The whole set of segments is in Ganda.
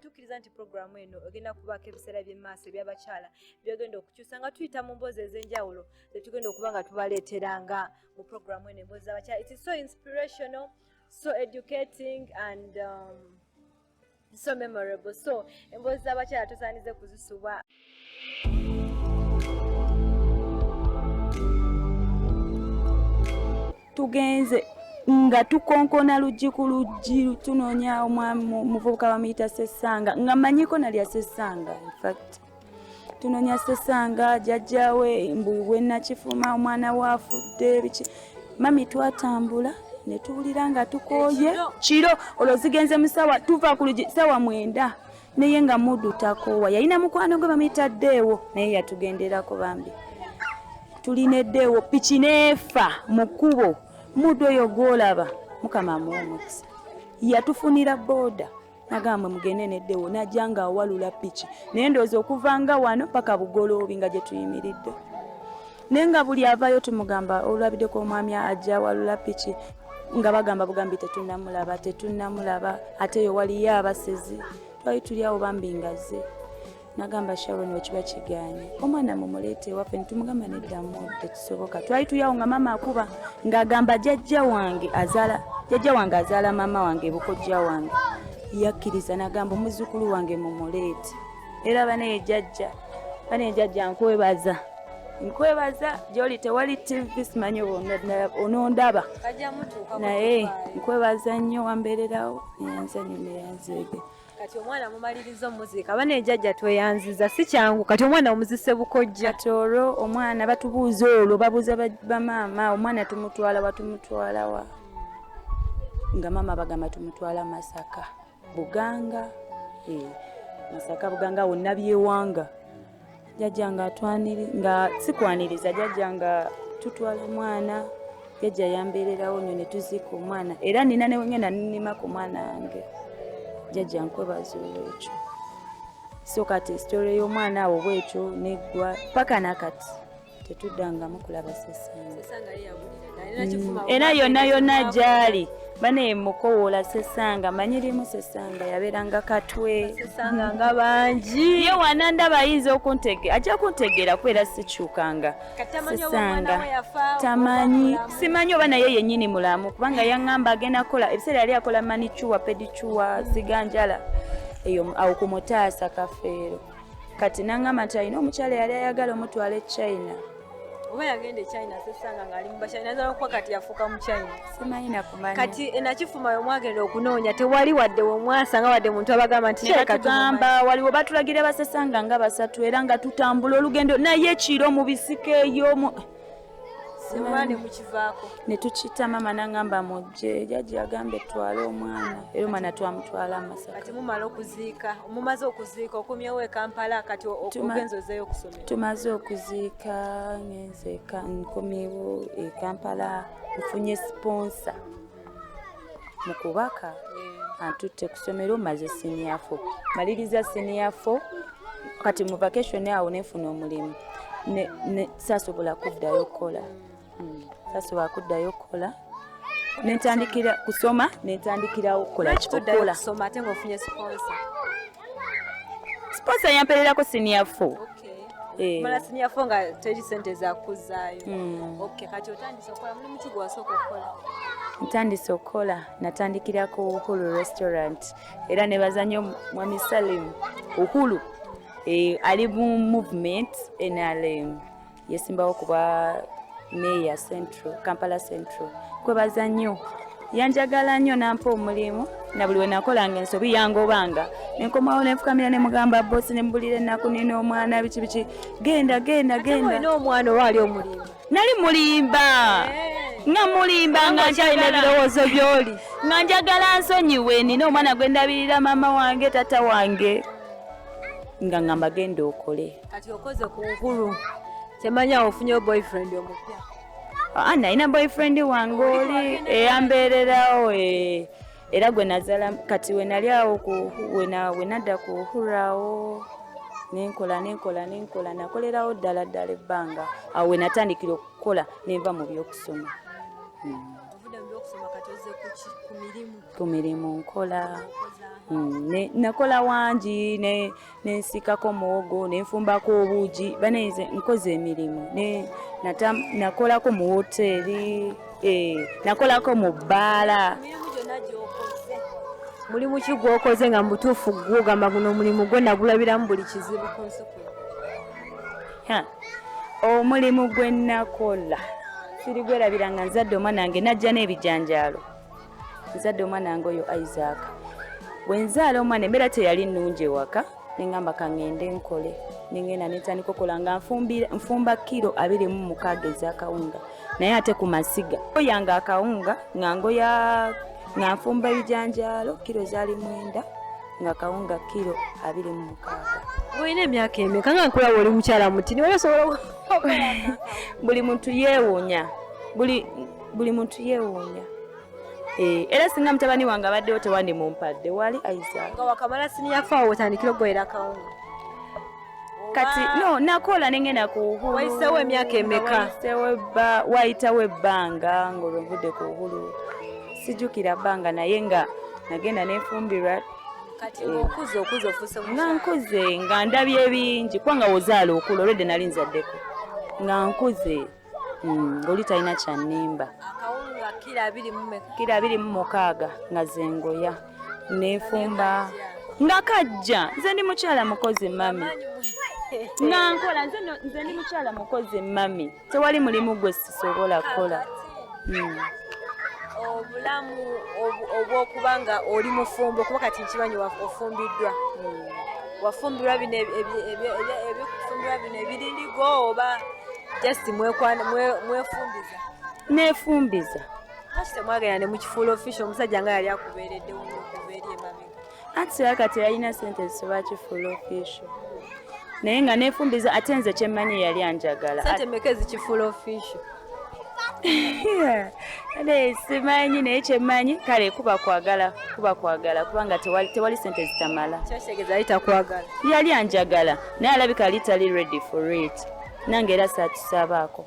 tukkiriza nti pulogulaamu eno egenda kubaako ebiseera by'emaaso ebyabakyala byogenda okukyusa nga tuyita mu mboozi ez'enjawulo zetugenda okuba nga tubaleetera nga mu pulogulaamu eno emboozi z'abakyala it is so inspirational so educating and um, so memorable so emboozi z'abakyala tusaanize kuzisubwa tugenze nga tukonkona luggi ku luggi tunoonya omwami muvubuka bamuyita sesanga nga manyiko nalya sesanga infact tunoonya sesanga jajjawe mbu wenakifuma omwana waafudde biki mami twatambula netuwulira nga tukooye kiro olwo zigenze musawa tuva ku luggi sawa mwenda naye nga mudu takoowa yalina mukwano gwe bamuyita ddeewo naye yatugenderako bambi tulina eddeewo piki neefa mu kkubo mudu oyo gwolaba mukama amuwa omukisa yatufunira booda nagamba mugende neddeewo najja nga awalula piki naye ndowooza okuva nga wano paka bugoloobi nga gye tuyimiridde naye nga buli avayo tumugamba olulabideko omwami ajja walula piki nga bagamba bugambi tetunamulaba tetunamulaba ate yo waliyo abasezi twali tuli awo bambi ngaze nagamba sharon wekiba kiganye omwana mumulete waffe nitumugamba neddamu tekisoboka twali tuli awo nga maama akuba ngaagamba jajja wange azala jajja wange azaala maama wange bukojja wange yakkiriza nagamba omuzukulu wange mumuleete era banaye jajja banaye jajja nkwebaza nkwebaza gyoli tewali tv simanyi onondaba naye nkwebaza nnyo wambeererawo eyanzanyo neyanzeege kati omwana mumaliriza omuzika bana ejajja tweyanziza si kyangu kati omwana omuzise bukojja kati olwo omwana batubuuza olwo babuuza bamaama omwana tumutwala watumutwalawa nga maama bagamba tumutwala masaka buganga eh, masaka buganga awo nabyewanga jajja nga atwaniri nga sikwaniriza jajja nga tutwala omwana jajja yambeererawo nyo ne tuziika omwana era nina newengenda ninima ku mwana wange jajja nkwebaza olwekyo so kati story y'omwana awo bwekyo neggwa paka nakati tetuddangamu kulaba sesanga era yonna yonna gyali bane mukowoola sesanga manyi limu sesanga yabeeranga katwe sesanga nga bangi ye wanandaba ayinza okuntege ajja kuntegeera kubeera sikyukanga sesanga tamanyi simanyi oba naye yennyini mulamu kubanga yaŋŋamba agenda kukola ebiseera yali akola manicuwa pedicuwa ziganjala eyo awo ku mutaasa kafeero kati nangamba nti alina omukyala yali ayagala omutwala e china oba yagenda e china sesanga ngaali mubachina naza nokuba kati yafuuka mu china simanyi nakumanya kati enakifuma eh, yomwagenda okunoonya tewali wadde womwasanga wadde muntu abagamba nti kyekatugamba waliwo batulagira basesanga nga basatu era nga tutambula olugendo naye kiro mu bisika eyo simane mukivaako ne tukita maama n'angamba mujje jajja yagamba etwale omwana era omwana twamutwala amasaka kati mumala okuziika mumaze okuziika okumyewo e kampala kati ogenza ozeeyo okusomera tumaze okuziika ngenze nkomyewo e kampala nfunye siponsa mu kubaka eh. antutte ku ssomero maze siniyafo maliriza siniyafo kati mu vacation awo nefuna omulimu sasobola kuddayo okukola hmm. sasobola kuddayo okukola nentandikira kusoma nentandikirawo okukola kikola siponsa yampererako siniya fo Eh. mala sinyafo nga teri sente zakuzaayo hmm. okay kati otandise okukola mulimu ki gwewasooka okukola ntandise okukola natandikira ku uhulu restaurant era nebaza nnyo mwami salim uhulu eh, ali mu movement nrm yesimbawo kuba meya central kampala central kwebaza nnyo yanjagala nnyo nampa omulimu na buli wenakolanga ensobi yangobanga nenkomawo nenfukamira nemugamba bosi nemubulira ennaku nina omwana biki biki genda genda genda omwana oba ali omulimba nali mulimba eh. nga mulimba nga nkyalina ebirowoozo byoli nga njagala nsonyiwe nina omwana gwendabirira maama wange tata wange nga ngamba genda okole kati okoze ku nkulu kyemanyi awo ofunyewo boyfriend omupya Ah, nalina boyfriend wange oli eyambeererawo eh, era gwe nazala kati wenali awo wenadda kuhurrawo nenkola nenkola nenkola nakolerawo ddala ddala ebbanga awo wenatandikira okukola nenva mu byokusoma hmm. ku mirimu nkola hmm, nakola wangi nensiikako muwogo nenfumbako obuugi banaize nkoze emirimu nakolako mu woteeri eh, nakolako mu bbaala mulimu ki gwokoze nga mubutuufu gwogamba guno omulimu gwe nagulabiramu buli kizibu ku nsi omulimu gwe nakola sirigwerabira nga nzadde omwana wange najja n'ebijanjaalo nzadde omwana wange oyo isaac bwenzaala omwana embeera teyali nnungi ewaka nengamba kangende nkole nengenda netandika okola nga nfumba kiro abiri mu mukaaga ezakawunga naye ate ku masiga oyanga akawunga nga ngoya nga nfumba ebijanjaalo kiro zaali mwenda nga kawunga kiro abiri mu mukaaga olina emyaka emeka nga nkulaba oli mukyala muti niwe osobola buli muntu yeewunya buli buli muntu yeewuunya eh, era singa mutabani wange abaddewo tewandi mumpadde wali aiza nga wakamala siniya faawo otandikira okugoyera akawunga kati no nakola nengenda kuhulu wayisewo emyaka emeka wayitawo ebbanga ngaolwovudde ku uhulu sijukira bbanga naye nga nagenda nefumbirwa nga nkuze nga ndabye ebingi kubanga wozaala okula olwedde nali nzaddeko nga nkuze Mm, oli talina kyanimba kira abiri mu mukaaga nga zengoya nefumba nga kajja nze ndi mukyala mukozi mami nga nkola nze ndi mukyala mukozi mami tewali mulimu gwe sisobola kukola mm. obulamu obwokuba nga oli mufumbo kuba kati nkimanyi ofumbiddwa mm. wafumbirwa bino ebikufumbirwa bino ebirindigo oba just mwekwana mwefumbiza nefumbiza kati temwagenda ne mukifuula official omusajja nga yali akubeereddewo okuva eri emabega anti sira kati yalina sente zisobola kifuula official naye nga nefumbiza ate nze kyemmanyi yali anjagala sente meka ezikifuula official ade simanyi naye kyemmanyi kale kuba kwagala kuba kwagala kubanga tewali, tewali sente zitamala yali anjagala naye alabika ali tali ready for it nange era saatusabaako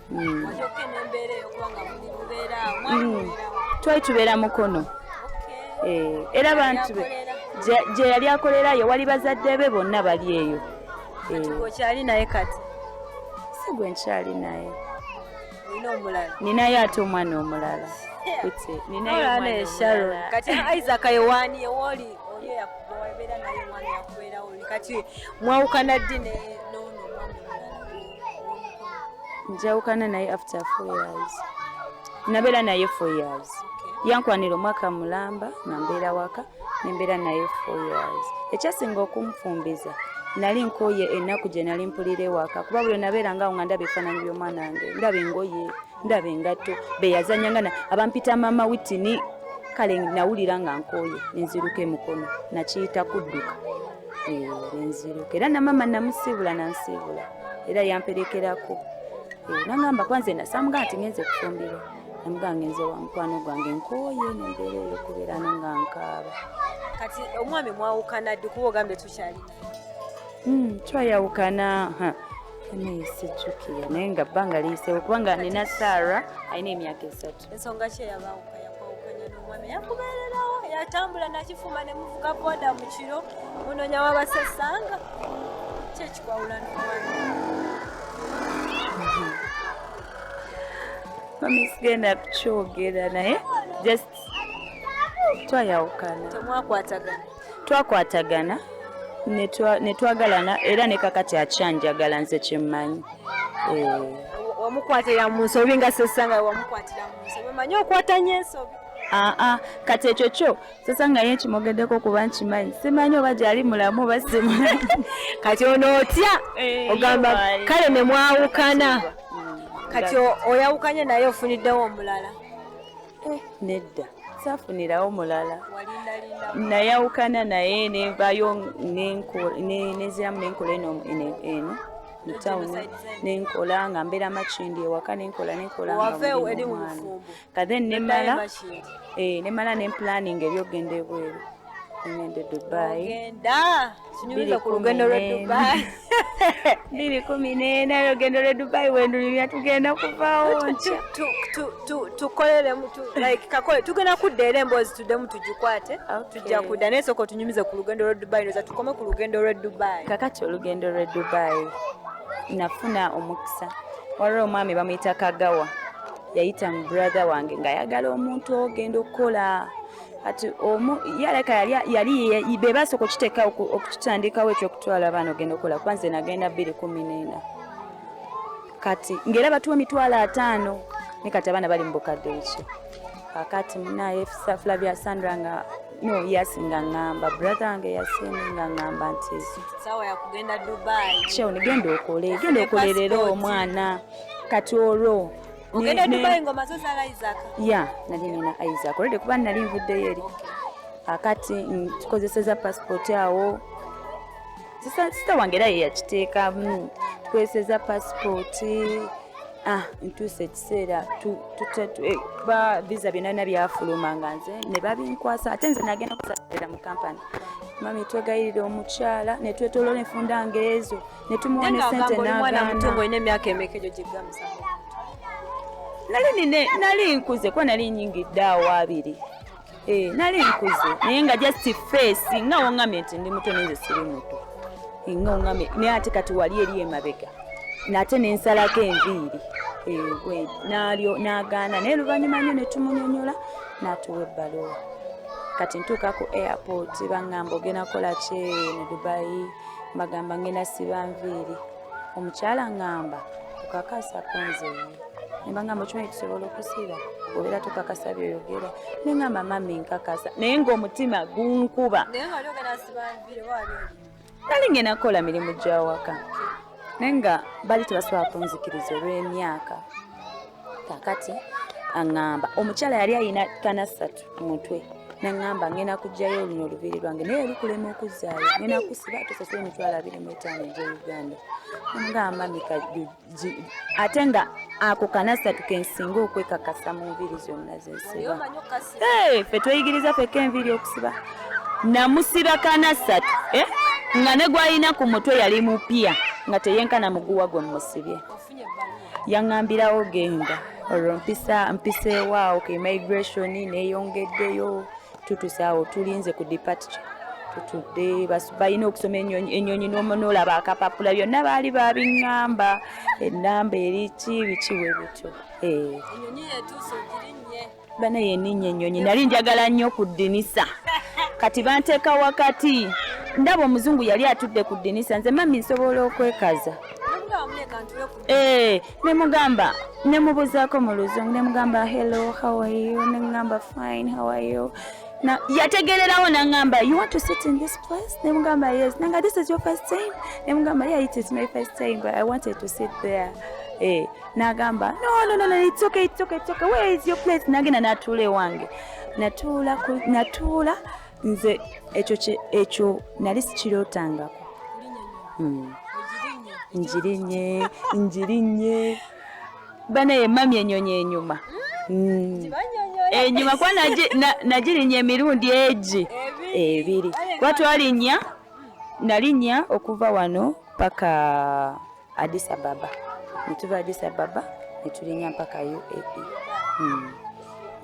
hmm. hmm. twali tubeera mukono eh, era bantu be gye yali akolerayo wali bazadde be bonna bali eyo eh. okyali naye kati sigwe nkyali naye ninayo ate omwana omulala kati isaac yewani ewoli oli eyakubeera naye omwana yakubeerawo kati mwawukana ddi njawukana naye after four years nabeera naye four years yankwanira omwaka mulamba nambeera waka nembeera naye four years ekyasinga okunfumbiza nali nkoye ennaku gye nali mpulira ewaka kuba buli nabeeranga awo nga ndaba ebifaananyi by'omwana wange ndaba engoye ndaba engatto beyazanya nga abampita maama witini kale nawulira nga nkooye nenziruka emukono nakiyita kudduka nenziruka era namama namusiibula nansiibula era yamperekerako nangamba kwanze nasamuga nti ngenze kufumbirwa embuga ngenze wa mukwano gwange nkooye nembeera eyo kubeera no nga nkaaba kati omwami mwawukana ddi kuba ogambye tukyali hmm, twayawukana naye sijjukira naye nga bbanga liyisewo kubanga nina saara alina emyaka esatu ensonga kyeyabawuka yakwawukanya n'omwami yakubeererawo yatambula nakifuma ne muvuga boda mu kiro munonya wabasesanga kyekikwawula n'omwami mami sigenda kukyogera naye just twayawukana temwakwatagana twakwatagana netwagalana era nekakati akyanjagala nze kyemmanyi eh. wamukwatira mu nsobi nga sesanga wamukwatira mu nsobi omanyi okwatanya ensobi aa ah, ah, kati ekyo kyo sasa nga ye nkimwogeddeko kuba nkimanyi simanyi oba gyali mulamu oba simanyi kati ono otya eh, ogamba kale ne mwawukana mm, kati oyawukanye naye ofuniddewo omulala eh, nedda safunirawo mulala nayawukana naye nevayo neziramu nenkola eno eno mutawuni nenkola nga mbeera makindi ewaka nenkola nenkola kathen nemala eh, nemala ne planning ebyokugenda ebweru ngende dubai ogenda sinyumiza ku lugendo lwe dubai biri kumi n'ena olugendo lwe dubai wendulibya tugenda kuvawo nkya tukolelemu like kakole tugenda kudda era emboozi tuddemu tugikwate tujja kudda naye sooka otunyumize ku lugendo lwe dubai noza tukome ku lugendo lwe dubai kakati olugendo lwe dubai nafuna omukisa waliwo omwami bamuyita kagawa yayita mu brother wange nga ayagala omuntu ogenda okukola kati omu yaleka yali be basooka okiteeka okutandikawo ekyokutwala abaana ogenda okukola kuba nze nagenda bbiri kumi neena kati ngaera batuwa emitwalo ataano ne kati abaana bali mu bukadde biki kakati munaye safula bya sandra nga no yasi nga ŋŋamba brother wange yasini nga ŋŋamba nti sawa yakugenda dubai kyeo nigenda okole genda okolerera omwana kati olwo ogenda dubai engoma zo zala isaac ya nali nina isaac olwedde kuba nali nvuddeyo eri akati tukozeseza passport awo sisita wange era yeyakiteekamu tukozeseza passport ah ntuuse ekiseera eh, ba visa byonana byafuluma nga nze ne babinkwasa ate nze nagenda kusaira mu kampani mami twegayirira omukyala netwetolola enfunda ngaezo ne tumuwa ne sente n'agaana nali nine nali nkuze kuba nali nyingidde awo abiri eh, nali nkuze naye nga just face nga woŋŋamye nti ndi muto nenze siri muto eh, nga woŋŋamye naye ate kati wali eri emabega nate nensalako enviiri eh, nalyo nagaana naye luvannyuma nyo netumunyonyola natuwa ebbalowa kati ntuuka ku airport baŋŋamba ogenda kola kye ne dubayi mbagamba ngenda siba nviiri omukyala ngamba kukakasa kunzeyo nembangamba okimanyi tusobola okusiba obeera tukakasa byoyogera nengamba mami nkakasa naye ngaomutima gunkuba nali ngenda kukola mirimu gyawaka naye nga bali tebasobola kunzikiriza olw'emyaka kakati aŋŋamba omukyala yali alina tana ssatu ku mutwe naŋŋamba ngenda kugyayo oluno olubiri lwange naye olukulema okuzzaayo ngenda kusiba tosasula emitwalo abiri mu etaano egya uganda omugamba mika ate nga ako kana ssatu kensinga okwekakasa mu nviiri zonna zensiba fe tweyigiriza feka enviiri okusiba namusiba kana ssatu eh? nga ne gwalina ku mutwe yali mupya nga teyenkana muguwa gwe mumusibye yaŋambirawo genda olwo mpisa mpiseewo awo ku immigration neyongeddeyo tutusa awo tulinze ku departure tutudde balina okusoma enyonyi noolaba akapapula byonna baali babiŋŋamba enamba eriki bikiwe bityo eh. bana yeninnya ennyonyi nali njagala nnyo ku ddinisa kati banteeka wakati ndaba omuzungu yali atudde ku ddinisa nze mami nsobola okwekaza eh, nemugamba nemubuzaako mu luzungu nemugamba hello how are you nemugamba fine how are you na yategererawo nangamba you want to sit in this place nemugamba yes nanga this is your first time nemugamba yeah it is my first time but i wanted to sit there eh. n'agamba no no no no it's okay it's okay it's okay where is your place nagenda natuula ewange natuula natuula nze ekyo ekyo nali sikirootangako hmm. njirinye njirinye banaye mami enyonyi enyuma hmm. enyuma kuba nagirinya emirundi egi ebiri kuba twalinya nalinya okuva wano paka Addis Ababa ne tuva Addis Ababa ne tulinnya mpaka UAE hmm.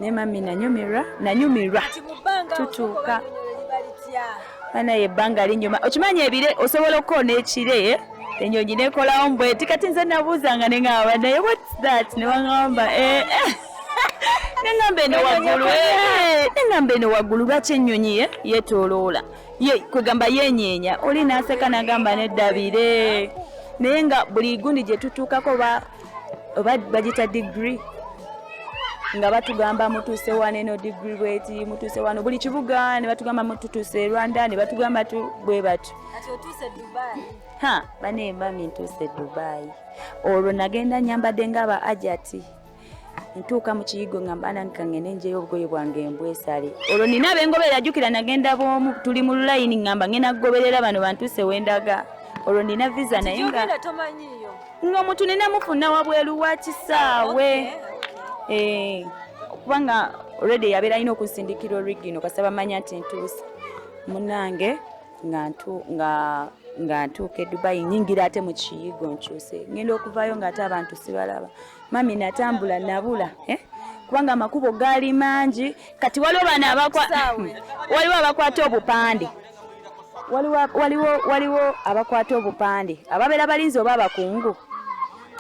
naye mami nanyumirwa nanyumirwa tutuuka banaye ebbanga linyuma okimanyi ebire osobola okukoona ekire eh? enyonyi nekolawo mbweti kati nze nabuuzanga neŋamba naye whats that newaŋamba eh, eh. neŋamba eno waggulu neŋamba eno waggulu lwaki ennyonyi yetoloola ye kwegamba yenyeenya oli n'aseka n'agamba neddabire naye nga buli gundi gye tutuukako oba bagita digiri nga batugamba mutuuse wano eno digiri bweti mutuuse wano buli kibuga ne batugamba mututuuse e rwanda ne batugamba tu bwe batyo ha banemba mintuuse dubayi olwo nagenda nyambadde nga aba ajati ntuuka mu kiyigo nga mbananka ngende njeyo obugoye bwange embwesale olwo nina abengobera ajukira nagenda bwomu tuli mu lulayini ngamba ngenda kugoberera bano bantuuse wendaga olwo nina visa naye nga ng'omuntu nina mufuna wabweru wa kisaawe eh, kubanga olwedde yabeera alina okunsindikira origino kasaba manya nti ntuuse munange nga nga ntuuka edubayi nyingira ate mu kiyigo nkyuse ngenda okuvaayo ngaate abantu sibalaba mami natambula nabula eh? kubanga amakubo gaali mangi kati waliwo bano waliwo abakwata obupande waliwo abakwata obupande ababeera balinzi oba abakungu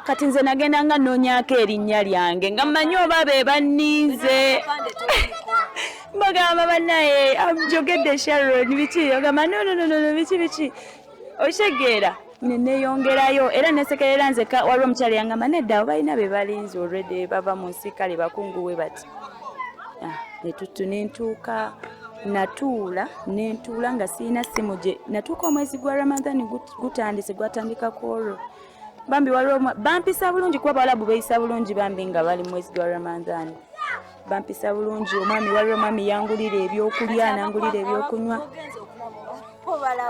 kati nze nagenda nga nonyako erinnya lyange nga mmanyi oba be banninze bagamba banaye amjogedde sharon biki ogamba nononono biki biki okitegeera ne neeyongerayo era nesekerera nzeka waliwo omukyala yangamba nedda abo balina be balinzi olredi bava mu nsi kale bakunguwe bati ah, netuttu nentuuka natuula nentuula nga sirina simu gye natuuka omwezi gwa ramadan gutandise gwatandika ku olwo bambi waliwo bampisa bulungi kuba bawalabu beeyisa bulungi bambi nga bali mwezi gwa ramadan bampisa bulungi omwami waliwo omwami yangulira ebyokulya nangulira ebyokunywa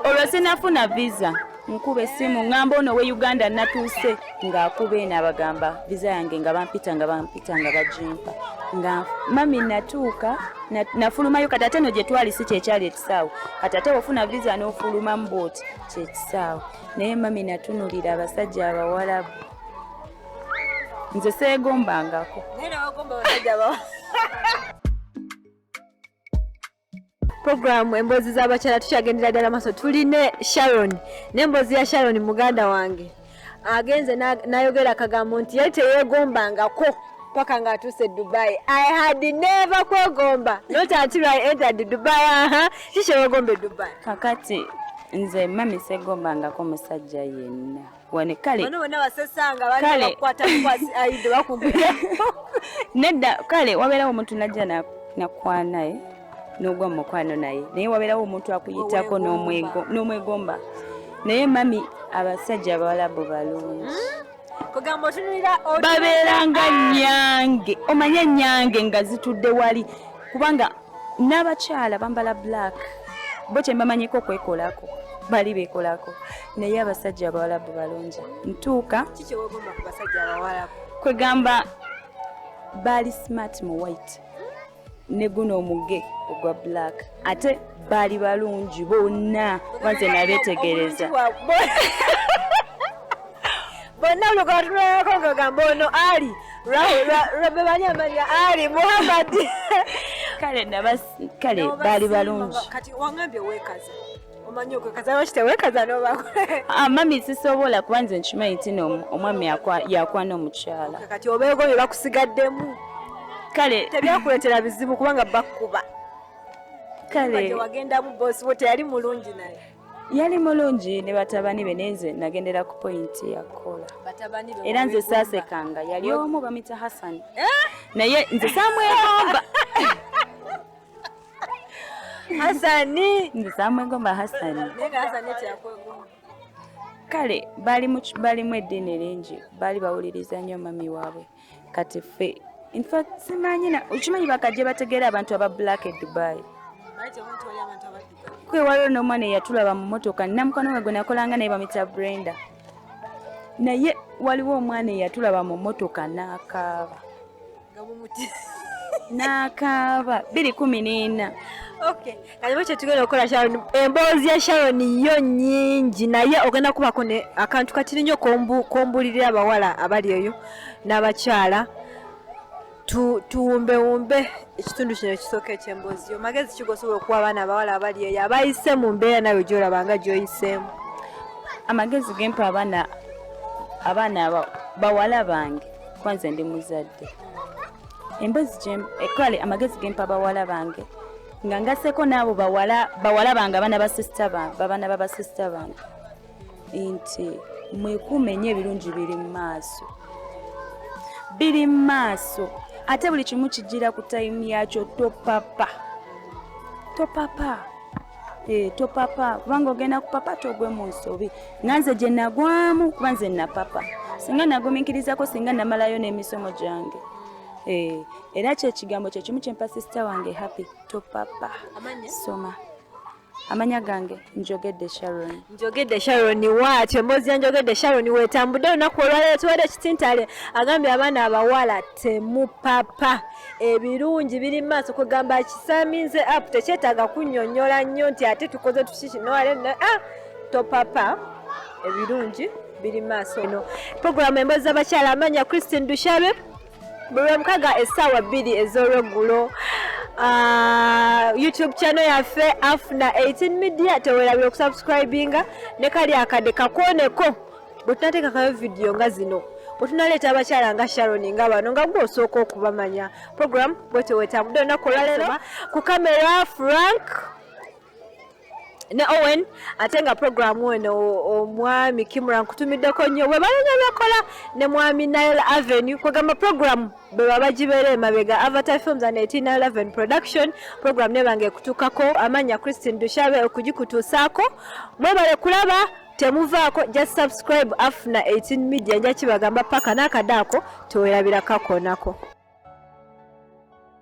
olwo sinafuna visa nkuba essimu ŋŋamba ono we uganda natuuse ng'akuba eno abagamba viza yange nga bampita nga bampita nga bajimpa nga mami natuuka nafulumayo kati ate no gye twali si kyekyali ekisaawe kati ate ofuna viza n'ofulumamu bwoti kyekisaawe naye mami natunulira abasajja abawalabu nze seegombangako programu emboozi z'abakyala tukyagendera ddala maaso tuli ne sharon n'emboozi ya sharon muganda wange agenze n'ayogera akagambo nti yali teyeegombangako paka nga atuuse e dubai i had never kwegomba not until i entered dubai aha kikyeweegomba e dubai kakati nze mami segombangako musajja yenna wane kale bano bonna basesanga bali bakwata kwasi aide bakumbira nedda kale wabeerawo omuntu najja nakwanaye n'ogwa mu mukwano naye naye wabeerawo omuntu akuyitako n'omwegomba naye mami abasajja abawalabu balungi hmm? babeeranga nyange omanye nyange nga zitudde wali kubanga n'abakyala bambala black bo kyembamanyiko okwekolako bali bekolako naye abasajja abawalabu balungi ntuuka kikyewogomba ku basajja abawalabu kwegamba baali smart mu white ne guno omuge ogwa black ate baali balungi bonna banze nabetegereza bonna lugatulako ngagamba ono ali lwebebali amanya ali muhammad kale baali balungi kati wangambye wekaza omanyi okwekazana kitewe kazana obakole ah, mami sisobola kuba nze nkimanyi nti omwami yakwana omukyala kati obeego bye bakusigaddemu kale tebyakuleetera bizibu kubanga bakuba kale wagendamu bosi wo teyali mulungi naye yali mulungi ne batabani be nenze nagendera ku pointi yakola era nze saasekanga yali omu bamita hassan eh? naye nze samwegomba Hasani ndizamwegomba Hasani kale balimu eddiini lingi baali bawuliriza nnyo mami waabwe kati ffe infact simanyi okimanyi bakajja bategeera abantu aba black e dubai kwe waliwo n'omwana eyatulaba mu motoka namukwano we gwe nakolanga naye bamita brenda naye waliwo omwana eyatulaba mu motoka n'akaaba n'akaaba biri kumi n'ena okay kaliwo kyetugenda okukola sharon emboozi ya sharon yo nyingi naye ogenda kubako ne akantu katiri nnyo kombulirira abawala abali eyo n'abakyala tuwumbewumbe ekitundu kino ekisooka ekyemboozi yo magezi ki gosobola okuwa abaana abawala abali eyo abayise mu mbeera nawe gyolaba nga gyoyiseemu amagezi gempa abaana abaana bawala bange kwanze ndi muzadde emboozi eh, kale amagezi gempa bawala bange nga ngaseko naabo bawala bange abaana basisita bange babaana babasisita bange nti mwekuume nnyo ebirungi biri mu maaso biri mu maaso ate buli kimu kijjira ku tayimu yakyo topapa topapa eh, topapa kubanga ogenda kupapa togwe mu nsobi nga nze gye nagwamu kuba nze napapa singa nagumikirizako singa namalayo n'emisomo gyange eh, era kyekigambo kyekimu kyempa sisita wange happy topapa soma amanya gange njogedde sharon njogedde sharon waati emboozi ya njogedde sharon wetambudde olunaku olwaleero tuwere ekitintale agambye abaana abawala temupapa ebirungi biri mu maaso kugamba kisaminze app tekyetaaga kunyonyola nnyo nti ate tukoze tukikinoale ah, topapa ebirungi biri mu maaso eno puroguramu emboozi z'abakyala amanya christine dushabe bulwemukaga essaawa bbiri ez'olweggulo ah, youtube channel yaffe afuna 18 media tewerabira okusubscribinga ne kali akade kakoneko bwe tunateekakayo vidiyo nga zino otunaleeta abakyala nga sharon nga bano nga gwe osooka okubamanya program bwetewetambudde olunaku olwaleero ku kamera frank ne Owen ate nga program eno omwami Kimura nkutumiddeko nnyo webalanya byakola ne mwami Nile Avenue kwegamba program bweba bagibeera emabega Avatar Films and 1811 production program nebanga ekutukako amanya Christine Dushabe okugikutuusaako mwebale kulaba temuvaako just subscribe afuna 18 media njakibagamba paka nakadaako tewerabira kakonako